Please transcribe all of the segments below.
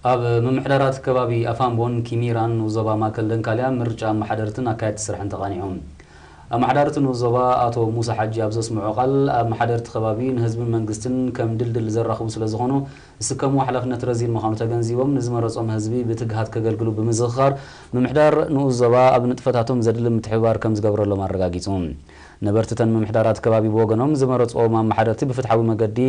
ኣብ ምምሕዳራት ከባቢ ኣፋምቦን ኪሚራን ንኡስ ዞባ ማእከል ደንካልያ ምርጫ ኣመሓደርትን ኣካየድቲ ስራሕን ተቓኒዑ። ኣመሓዳሪ እቲ ንኡስ ዞባ ኣቶ ሙሳ ሓጂ ኣብ ዘስምዖ ቃል፣ ኣመሓደርቲ ከባቢ ንህዝብን መንግስትን ከም ድልድል ዘራኽቡ ስለዝኾኑ ዝስከምዎ ሓላፍነት ረዚን ምዃኑ ተገንዚቦም ንዝመረጾም ህዝቢ ብትግሃት ከገልግሉ ብምዝኽኻር ምምሕዳር ንኡስ ዞባ ኣብ ንጥፈታቶም ዘድሊ ምትሕብባር ከምዝገብረሎም ኣረጋጊጹ። ነበርቲ እተን ምምሕዳራት ከባቢ ብወገኖም፣ ዝመረጽዎም ኣመሓደርቲ ብፍትሓዊ መገዲ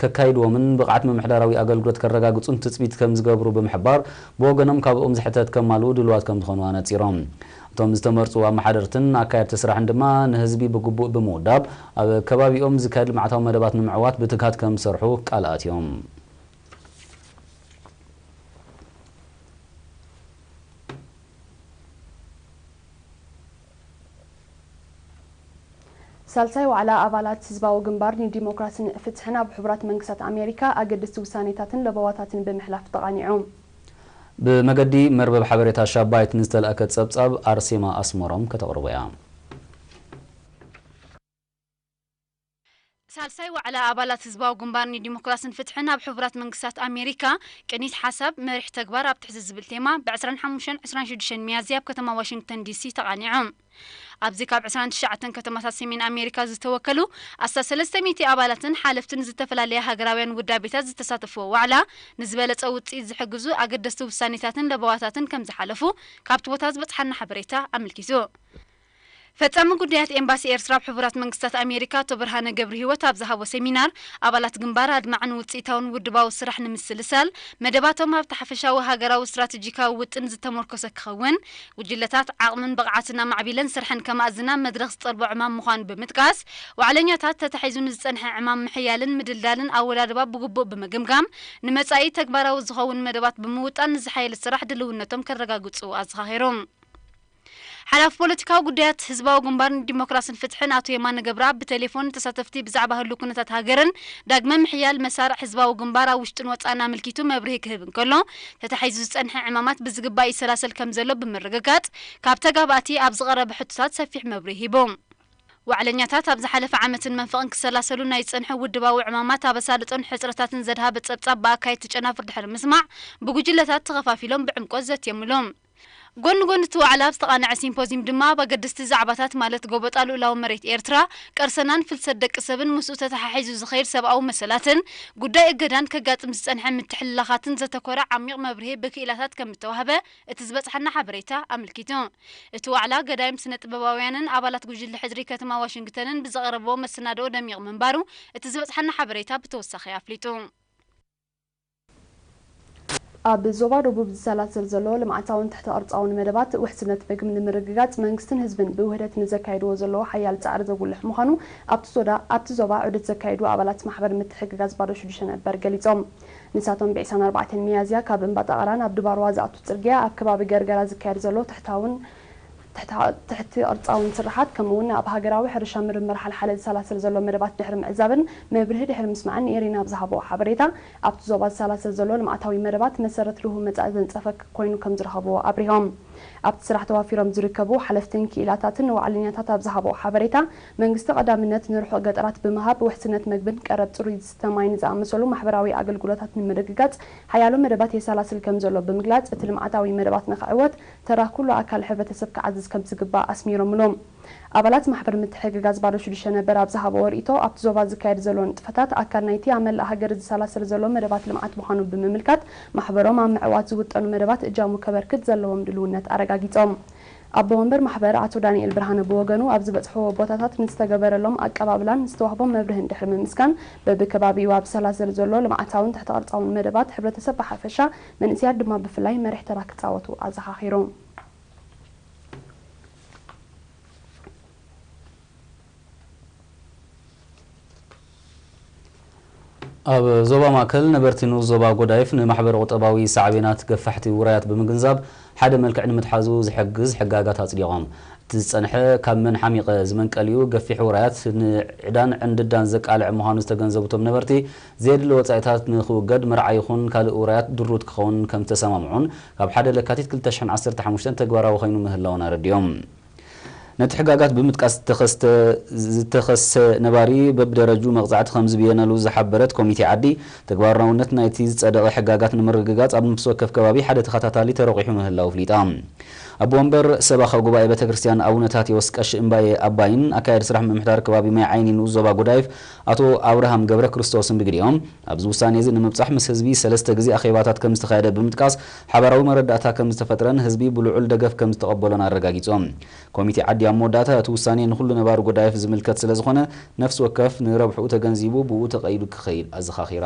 ከካይድዎምን ብቕዓት ምምሕዳራዊ ኣገልግሎት ከረጋግፁን ትፅቢት ከምዝገብሩ ብምሕባር፣ ብወገኖም ካብኦም ዝሕተት ከማልኡ ድሉዋት ከምዝኾኑ ኣነፂሮም። እቶም ዝተመርፁ ኣመሓደርትን ኣካየድቲ ስራሕን ድማ ንህዝቢ ብግቡእ ብምውዳብ ኣብ ከባቢኦም ዝካየድ ልምዓታዊ መደባት ንምዕዋት ብትግሃት ከምዝሰርሑ ቃል ኣትዮም። ሳልሳይ ዋዕላ ኣባላት ህዝባዊ ግንባር ንዲሞክራስን ፍትሕን ኣብ ሕቡራት መንግስታት ኣሜሪካ ኣገደስቲ ውሳኔታትን ለበዋታትን ብምሕላፍ ተቓኒዑ። ብመገዲ መርበብ ሓበሬታ ሻባይት ንዝተላእከ ጸብጻብ ኣርሴማ ኣስመሮም ከተቕርቦ'ያ። ሳልሳይ ዋዕላ ኣባላት ህዝባዊ ግንባር ንዲሞክራስን ፍትሕን ኣብ ሕቡራት መንግስታት ኣሜሪካ፣ ቅኒት ሓሳብ፣ መሪሕ ተግባር ኣብ ትሕቲ ዝብል ቴማ ብ ዕስራን ሓሙሽተን ዕስራን ሽዱሽተን ሚያዝያ ኣብ ከተማ ዋሽንግተን ዲሲ ተቓኒዑ። ኣብዚ ካብ ዕስራን ትሽዓተን ከተማታት ሰሜን ኣሜሪካ ዝተወከሉ ኣስታት ሰለስተ ሚእቲ ኣባላትን ሓለፍትን ዝተፈላለያ ሃገራውያን ውዳቤታት ዝተሳተፍዎ ዋዕላ ንዝበለጸ ውጽኢት ዝሕግዙ ኣገደስቲ ውሳኔታትን ለበዋታትን ከምዝሓለፉ ካብቲ ቦታ ዝበጽሓና ሓበሬታ ኣመልኪቱ። ፈጻሚ ጉዳያት ኤምባሲ ኤርትራ ኣብ ሕቡራት መንግስታት ኣሜሪካ ኣቶ ብርሃነ ገብርሂወት ኣብ ዝሃቦ ሰሚናር፣ ኣባላት ግንባር ኣድማዕን ውጽኢታውን ውድባዊ ስራሕ ንምስልሳል፣ መደባቶም ኣብቲ ሓፈሻዊ ሃገራዊ ስትራተጂካዊ ውጥን ዝተሞርኮሰ ክኸውን፣ ጉጅለታት ዓቕምን ብቕዓትን ኣማዕቢለን ስርሐን ከማእዝና መድረኽ ዝጠልቦ ዕማም ምዃኑ ብምጥቃስ፣ ዋዕለኛታት ተታሒዙ ንዝጸንሐ ዕማም ምሕያልን ምድልዳልን ኣወዳድባ ብግቡእ ብምግምጋም ንመጻኢ ተግባራዊ ዝኸውን መደባት ብምውጣን ንዝሓየለ ስራሕ ድልውነቶም ከረጋግጹ ኣዘኻኺሮም። ሓላፊ ፖለቲካዊ ጉዳያት ህዝባዊ ግንባር ንዲሞክራስን ፍትሕን ኣቶ የማነ ገብረኣብ ብቴሌፎን ንተሳተፍቲ ብዛዕባ ህሉው ኩነታት ሃገርን ዳግመ ምሕያል መሳርዕ ህዝባዊ ግንባር ኣብ ውሽጥን ወጻእን ኣመልኪቱ መብርሂ ክህብ እንከሎ ተታሒዙ ዝጸንሐ ዕማማት ብዝግባእ ይሰላሰል ከምዘሎ ብምርግጋጽ ካብ ተጋባእቲ ኣብ ዝቐረበ ሕቶታት ሰፊሕ መብርሂ ሂቡ። ዋዕለኛታት ኣብ ዝሓለፈ ዓመትን መንፈቕን ክሰላሰሉ ናይ ዝጸንሑ ውድባዊ ዕማማት ኣብ ኣሳልጦን ሕጽረታትን ዘድሃበ ጸብጻብ ብኣካየድቲ ጨናፍር ድሕሪ ምስማዕ ብጉጅለታት ተኸፋፊሎም ብዕምቆት ዘትየምሉ። ጎኒ ጎኒ እቲ ዋዕላ ኣብ ዝተቓነዐ ሲምፖዝዩም ድማ ኣብ ኣገደስቲ ዛዕባታት ማለት ጎበጣ ልኡላዊ መሬት ኤርትራ፣ ቀርሰናን ፍልሰት ደቂ ሰብን ምስኡ ተተሓሒዙ ዝኸይድ ሰብኣዊ መሰላትን ጉዳይ እገዳን ከጋጥም ዝጸንሐ ምትሕልላኻትን ዘተኮረ ዓሚቕ መብርሂ ብክኢላታት ከም እተዋህበ እቲ ዝበጽሓና ሓበሬታ ኣመልኪቱ። እቲ ዋዕላ ገዳይም ስነ-ጥበባውያንን ኣባላት ጉጅለ ሕድሪ ከተማ ዋሽንግተንን ብዘቕረብዎ መሰናድኦ ደሚቕ ምንባሩ እቲ ዝበጽሓና ሓበሬታ ብተወሳኺ ኣፍሊጡ። ኣብ ዞባ ደቡብ ዝሰላሰል ዘሎ ልምዓታውን ትሕተ ቅርፃውን መደባት ውሕስነት ምግብ ንምርግጋፅ መንግስትን ህዝብን ብውህደት ንዘካይድዎ ዘለዉ ሓያል ፃዕሪ ዘጉልሕ ምዃኑ ኣብቲ ዞባ ዑደት ዘካየዱ ኣባላት ማሕበር ምትሕግጋዝ ባዶ ሽዱሽተ ነበር ገሊፆም። ንሳቶም ብዒስራን ኣርባዕተን ሚያዝያ ካብ እምባጣቕራ ናብ ድባርዋ ዝኣቱ ፅርግያ ኣብ ከባቢ ገርገራ ዝካየድ ዘሎ ትሕታውን ትሕተ ቅርጻውን ስርሓት ከምኡ'ውን ኣብ ሃገራዊ ሕርሻ ምርምር ሓልሓለ ዝሰላሰል ዘሎ መደባት ድሕሪ ምዕዛብን መብርሂ ድሕሪ ምስማዕን ንኤሪና ኣብ ዝሃብኦ ሓበሬታ፣ ኣብ'ቲ ዞባ ዝሰላሰል ዘሎ ልምዓታዊ መደባት መሰረት ርሁው መጻኢ ዘንጸፈ ኮይኑ ከምዝረኸብዎ ኣብሪሆም። ኣብ'ቲ ስራሕ ተዋፊሮም ዝርከቡ ሓለፍትን ክኢላታትን ንዋዕለኛታት ኣብ ዝሃብኦ ሓበሬታ፣ መንግስቲ ቀዳምነት ንርሑቕ ገጠራት ብምሃብ ውሕስነት መግብን ቀረብ ጽሩይ ዝስተ ማይን ዝኣመሰሉ ማሕበራዊ ኣገልግሎታት ንምርግጋጽ ሓያሎ መደባት የሰላስል ከምዘሎ ብምግላጽ፣ እቲ ልምዓታዊ መደባት ንኽዕወት ተራ ኩሉ ኣካል ሕብረተሰብ ክዓዝዝ ከምዝግባእ ኣስሚሮምሉ። ኣባላት ማሕበር ምትሕግጋዝ ባዶ ሽዱሽተ ነበር ኣብ ዝሃብኦ ርእይቶ፣ ኣብቲ ዞባ ዝካየድ ዘሎ ንጥፈታት ኣካል ናይቲ ኣብ መላእ ሃገር ዝሰላሰል ዘሎ መደባት ልምዓት ምዃኑ ብምምልካት፣ ማሕበሮም ኣብ ምዕዋት ዝውጠኑ መደባት እጃሙ ከበርክት ዘለዎም ድልውነት ኣረጋጊጾም። ኣቦ ወንበር ማሕበር ኣቶ ዳኒኤል ብርሃነ ብወገኑ፣ ኣብ ዝበጽሕዎ ቦታታት ንዝተገበረሎም ኣቀባብላን ንዝተዋህቦም መብርህን ድሕሪ ምምስጋን፣ በብከባቢኡ ኣብ ዝሰላሰል ዘሎ ልምዓታውን ትሕተ-ቅርጻውን መደባት ሕብረተሰብ ብሓፈሻ መንእሰያት ድማ ብፍላይ መሪሕ ተራ ክጻወቱ ኣዘኻኺሩ። ኣብ ዞባ ማእከል ነበርቲ ንኡስ ዞባ ጎዳይፍ ንማሕበረ-ቁጠባዊ ሳዕቤናት ገፋሕቲ ውራያት ብምግንዛብ ሓደ መልክዕ ንምትሓዙ ዝሕግዝ ሕጋጋት ኣጽዲቖም። እቲ ዝጸንሐ ካብ መን ሓሚቐ ዝመንቀል'ዩ ገፊሕ ውራያት ንዕዳን ዕንድዳን ዘቃልዕ ምዃኑ ዝተገንዘቡ እቶም ነበርቲ፣ ዘየድሊ ወጻኢታት ንኽውገድ መርዓ ይኹን ካልእ ውራያት ድሩት ክኸውን ከምዝተሰማምዑን ካብ ሓደ ለካቲት ክልተ ሽሕን ዓሰርተ ሓሙሽተን ተግባራዊ ኮይኑ ምህላዉን ኣረዲኦም። ነቲ ሕጋጋት ብምጥቃስ ዝተኸስተ ዝተኸስተ ነባሪ በብደረጅኡ መቕጻዕቲ ከምዝብየነሉ ዝሓበረት ኮሚቴ ዓዲ፣ ተግባራውነት ናይቲ ዝጸደቐ ሕጋጋት ንምርግጋጽ ኣብ ነፍሲ ወከፍ ከባቢ ሓደ ተኸታታሊ ተረቝሑ ምህላዉ ኣፍሊጣ። ኣቦ ወንበር ሰባኻ ጉባኤ ቤተ ክርስቲያን ኣቡነ ታቴዎስ ቀሺ እምባየ ኣባይን ኣካያዲ ስራሕ ምምሕዳር ከባቢ ማይ ዓይኒ ንኡስ ዞባ ጎዳይፍ ኣቶ ኣብርሃም ገብረክርስቶስን ብግዲኦም፣ ኣብዚ ውሳኔ'ዚ ንምብጻሕ ምስ ህዝቢ ሰለስተ ግዜ ኣኼባታት ከምዝተኻየደ ብምጥቃስ፣ ሓባራዊ መረዳእታ ከምዝተፈጥረን ህዝቢ ብልዑል ደገፍ ከምዝተቐበሎን ኣረጋጊጾም። ኮሚቴ ዓዲ ኣብ መወዳእታ፣ እቲ ውሳኔ ንኹሉ ነባሪ ጎዳይፍ ዝምልከት ስለዝኾነ፣ ነፍሲ ወከፍ ንረብሕኡ ተገንዚቡ ብኡ ተቐይዱ ክኸይድ ኣዘኻኺራ።